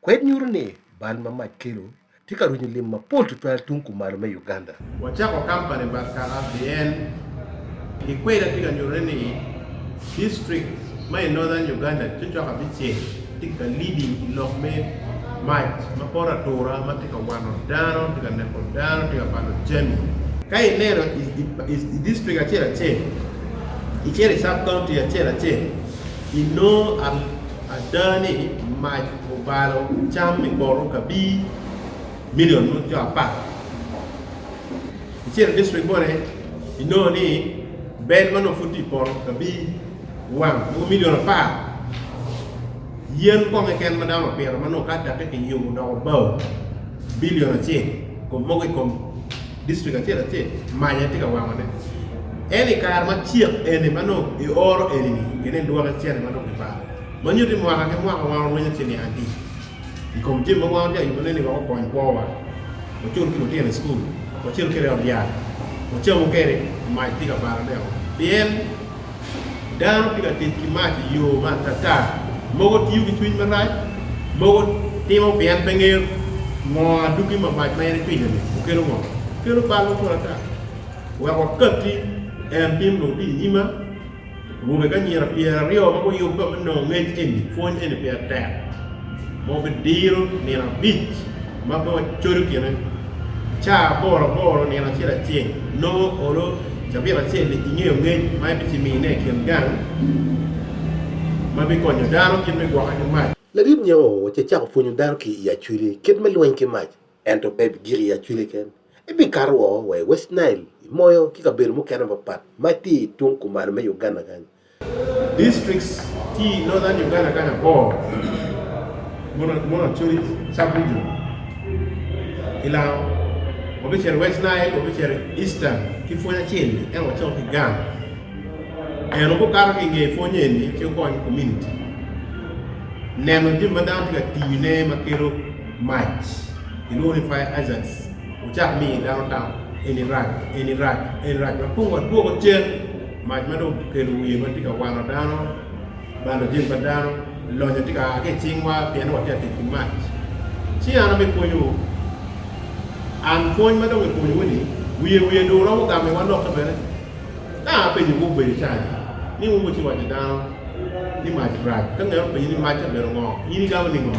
Kwed nyuto ni bal ma mac kelo tye ka rwenyo lim mapol tutwal tung kumalo me Uganda. Wacako kampani Barkara pien gikweda tye ka nyuto ni district ma i Northern Uganda cocok abicel tye ka leading i lok me mac ma poto atura ma tye ka wano dano, tye ka neko dano, tye ka balo jami. Ka ineno i district acel acel, icito i sub-county acel acel, inongo. ada ni mac obalo cam i poto kabir milion mo co apar. Icito i district moni, inongo ni bel ma nongo pud tye i poto kabir wang mogo milion apar. Yen mukongo keken ma dano opito ma nongo ka cakke kiyubo odoko bao bilion acel, kom mogo i kom District acel acel mac aye tye ka wango ne ento i kare ma cek eni ma nongo i oro eni ni gine i lwok icene ma nongo kibalo ma nyuto ni mwaka ki mwaka wan orwenyo ci niang adi i kom jami ma wan watye ka yubo ne ni wek okony kwo wa wacul ki lutino i school wacel kede i ot yat wacamu kede mac tye ka balo ne o pien Dano ki latic ki mac i yo ma atata, mogo tiyo ki cwiny marac, mogo timo pien pe ngeyo ngo adwogi ma mac ma en ecwinyo-ni okelo ngo. Kelo bal mapol ata. Wek wakatti, en tim dong tye i nyima, awobe ki anyira pyeraryo ma guyubba me nongo ngec eni, pwony eni peya tek, ma wabidiro nino abic ma bor codo kine caa aboro aboro nino acel acel nongo olo cabit acel i nge ongec ma ebicimine i kin gang ma bikonyo dano kit me gwoke ki mac. Ladit nyo oc ecako pwonyo dano ki i acwili kit me lweny ki mac, ento pe ebigik i acwili ken. Ebikato woko wa i West Nile, i Moyo, ki kabedo mukene mapat ma tye i tung kumalo me Uganda kany. Districts tye i Northern Uganda kany abor, monochori sub-region, ki lango, wabicito i West Nile, wabicito i Eastern ki pwony acel ni ento wacok ki gang eno gukato ki nge pwony eni ci wukony community neno jami ma dano tye ka tiyo ne ma kelo mac kilwongo ni fire hazards wucak miyo dano tam eni rac eni rac eni rac ma kong wadwoko cen. Mac ma dong kikelo wiye ma tye ka wano dano, balo jami pa dano, lonyo tye ka a ki i cingwa pien ni watye ka tic ki mac. Ci an abipwonyowu, an pwony ma dong kipwonyowu-ni, wiye wiye dong romo gamo iwa lokke bene. Ka apenyowu obedo cani ni wun wucito waco dano ni mac rac, ka ngera openyi ni mac-ci obedo ngo, in igamo ningo?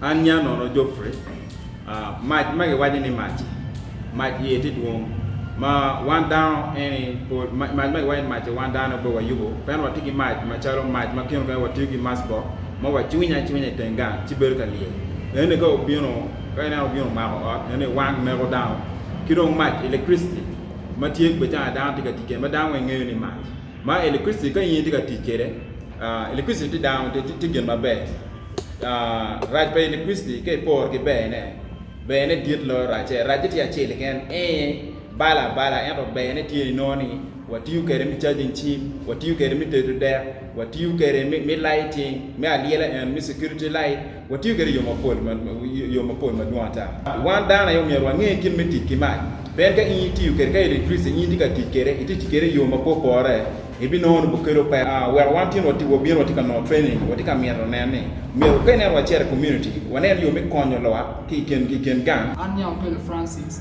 An nya nono Geoffrey, Mac ma giwaco ni mac-ci, mac iye tye dwong, ma wan dano eni pol, mac ma giwaco ni mac-ci wan dano pe wayubo, pien watye ki mac macalo mac ma kine mukene watiyo ki macbok ma wacwinyo acwinya i teng gang ci bedo ka lyel. Enoni ka obino, ka ineno obino omako ot, enoni wang neko dano. Ki dong mac, electricity, ma tye bene calo dano tye ka tic kwede, ma dano weng ngeyo ni mac. Ma electricity ka in tye ka tic kwede, uh, electricity tye dano, tye, tye gin maber. Uh, rac pa electricity ka iporo ki berne, berne dit loyo racce. Racce tye acel keken, ee, balo abala, ento berne tye inongo ni watiyo kwede me charging cim, watiyo kwede me tedo dek, watiyo kwede me, me lighting, me alyela eno, me security light, Watiyo kwede i yo mapol, i yo mapol madwong ata. Wan dano aye omyero wange kit me tic ki mac. Pien ka in itiyo kwede, ka electricity in itye ka tic kwede, itye tic kwede i yo mapor porre, ebinongo ni bukelo pek. Wek wan tyen wati, wabino watye ka nongo training, watye ka mito nen ni myero ka ineno wacito i community, wanen yo me konyo lwak ki i kin gang. An Nyao Pele Francis,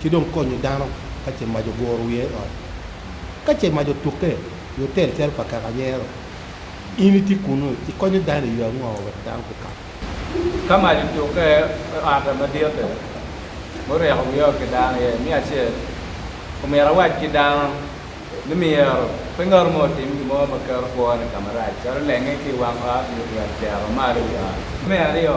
ci dong konyo dano ka ce mac oguro wiye i ot. Ka ce mac otukke i otel calo pa kaka anyero, in itye kunnu, ikonyo dano i yo ango wek dano pe kak? Ka mac otukke i ot madit-ti, muryeko wiya ki dano iye, me acel, omyero awac ki dano ni myero pe ngat mo otim gin mo ma keto kwone i ka marac, calo lenge ki i wang ot nyo ryeko cero malo i wi ot. Me aryo,